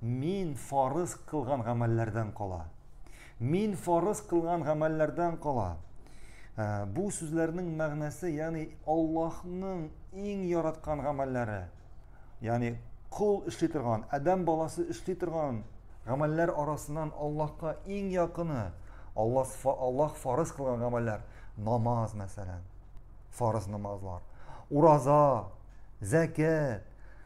Мин фарыз кылган гамәлләрдән кала. Мин фарыз кылган гамәлләрдән кала. Ә, бу сүзләрнең мәгънәсе, ягъни Аллаһның иң яраткан гамәлләре. Ягъни кул эшли торган, адәм баласы эшли торган гамәлләр арасыннан Аллаһка иң якыны Аллаһ Аллаһ фарыз кылган гамәлләр, намаз мәсәлән. Фарыз намазлар. Ураза, зәкят,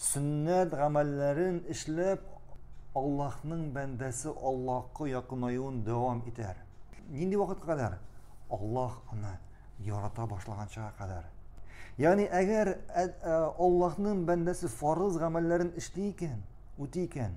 Сөннәт гамәлләрен эшләп, Аллаһның бәндәсе Аллаһка якынаюын дәвам итәр. Нинди вакытка кадәр? Аллаһ аны ярата башлаганчага кадәр. Ягъни, әгәр Аллаһның бәндәсе фарыз гамәлләрен эшли икән, үти икән,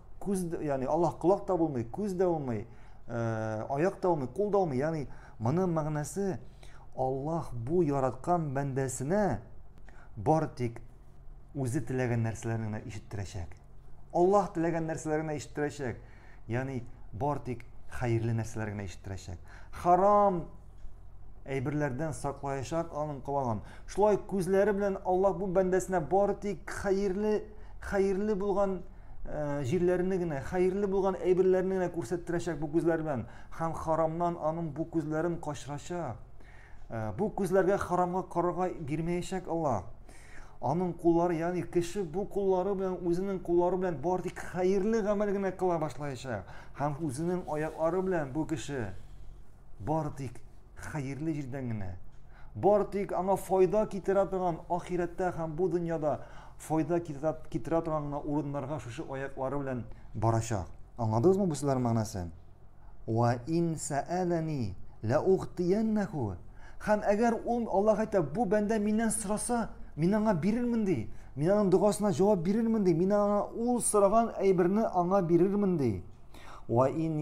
Күз, яни Аллаһ колак та булмый, күз дә булмый, э, аяк та булмый, кул да булмый. Яни моның мәгънәсе Аллаһ бу яраткан бәндәсенә бар тик үзе теләгән нәрсәләрне генә ишеттерәчәк. Аллаһ теләгән нәрсәләрне генә ишеттерәчәк. Яни бар тик хәерле нәрсәләр генә ишеттерәчәк. Харам әйберләрдән саклаячак аның калаган. Шулай күзләре белән Аллаһ бу бәндәсенә бары тик хәерле, хәерле булган э, җирләрне генә, хәерле булган әйберләрне генә күрсәттерәчәк бу күзләр белән. Һәм харамнан аның бу күзләрен качырачак. Э, бу күзләргә харамга карарга бирмәячәк Аллаһ. Аның куллары, ягъни кеше бу куллары белән үзенең куллары белән бары тик хәерле гамәл генә кыла башлаячак. Һәм үзенең аяклары белән бу кеше Бары тик хәерле җирдән генә, бары тик аңа файда китерә торган ахирәттә һәм бу дөньяда файда китерә, китерә торган гына урыннарга шушы аяклары белән барачак. Аңладыгызмы бу сүзләр мәгънәсен? Ва ин саалани ла ухтияннаху. Һәм әгәр ул Аллаһ әйтә, бу бәндә миннән сораса, мин аңа бирермен ди. Мин аның догасына җавап бирермен ди. Мин аңа ул сораган әйберне аңа бирермен ди. Ва ин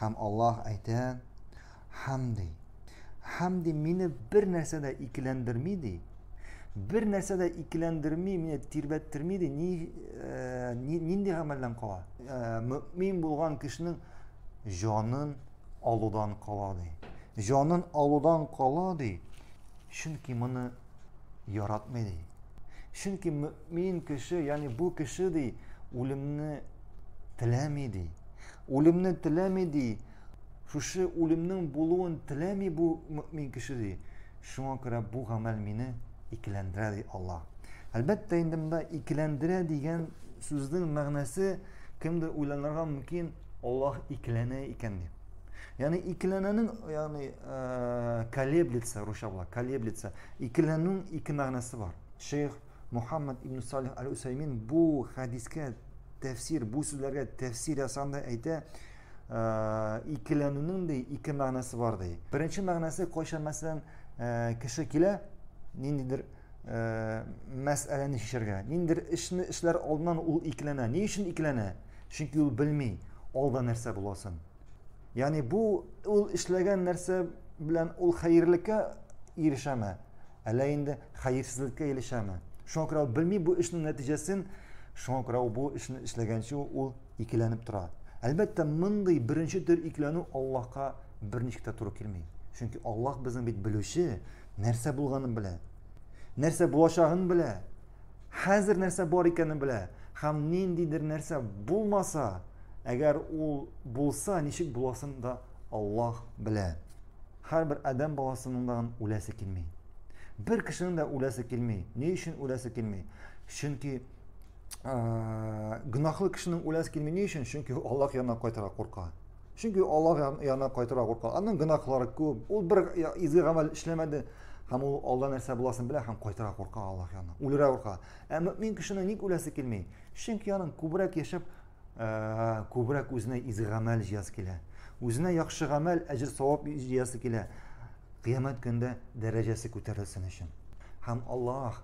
Һәм Аллаһ әйтә, һәм ди, һәм ди, мине бер нәрсә дә икеләндерми ди, бер нәрсә дә икеләндерми, мине тирбәттерми ди, ни, э, ни, нинди гамәлдән кала? Э, мөмин булган кешенең җанын алудан кала ди. Җанын алудан кала ди, чөнки моны яратмый ди. Чөнки Мин кеше, ягъни бу кеше ди, үлемне теләми ди. Үлемне теләми ди. Шушы үлемнең булуын теләми бу мөмин кеше ди. Шуңа күрә бу гамәл мине икеләндерә ди Алла. Әлбәттә, инде монда икеләндерә дигән сүзнең мәгънәсе кемдер уйланырга мөмкин, Аллаһ икеләнә икән дип. Ягъни икеләнәнең, ягъни э, колеблется, русча була, колеблется. Икеләнүнең ике мәгънәсе бар. Шейх Мухаммад ибн Салих аль-Усаймин бу хәдискә тәфсир, бу сүзләргә тәфсир ясанда әйтә, ә, икеләнүнең дә ике мәгънәсе бар ди. Беренче мәгънәсе кайчан мәсәлән ә, кеше килә, ниндидер ә, мәсьәләне шешергә, ниндидер эшне эшләр алдыннан ул икеләнә. Ни өчен икеләнә? Чөнки ул белми, алда нәрсә буласын. Яни бу ул эшләгән нәрсә белән ул хәерлеккә ирешәме? Әллә инде хәерсезлеккә ирешәме? Шуңа күрә ул белми бу эшнең нәтиҗәсен, шуңа күрә ул бу эшне эшләгәнче ул икеләнеп тора. Әлбәттә, мондый беренче төр икеләнү Аллаһка берничек тә туры килми. Чөнки Аллаһ безнең бит белүче, нәрсә булганын белә. Нәрсә булачагын белә. хәзер нәрсә бар икәнен белә һәм ниндидер нәрсә булмаса әгәр ул булса ничек буласын да аллаһ белә һәрбер адәм баласының да үләсе килми бер кешенең дә үләсе килми ни өчен үләсе килми чөнки гөнаһлы кешенең үләсе килми ни өчен чөнки аллаһ янына кайтырга курка Чөнки Аллаһ янына кайтырга курка. Аның гөнаһлары күп. Ул бер изге гамәл эшләмәде. Һәм ул алда нәрсә буласын белә һәм кайтырга курка Аллаһ янына. Үлергә курка. Ә мөмин кешенең ник үләсе килми? Чөнки аның күбрәк яшәп, ә, күбрәк үзенә изге гамәл җыясы килә. Үзенә яхшы гамәл, әҗер савап җыясы килә. Кыямәт көндә дәрәҗәсе күтәрелсен өчен. Һәм Аллаһ,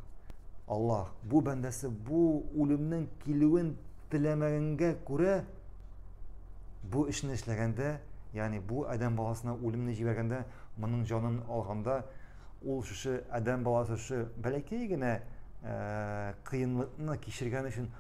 Аллаһ бу бәндәсе бу үлемнең килүен теләмәгәнгә күрә бу эшне эшләгәндә, ягъни бу адәм баласына үлемне җибәргәндә, моның җанын алганда, ул шушы адәм баласы шушы бәләкәй генә э, кыенлыкны кичергән өчен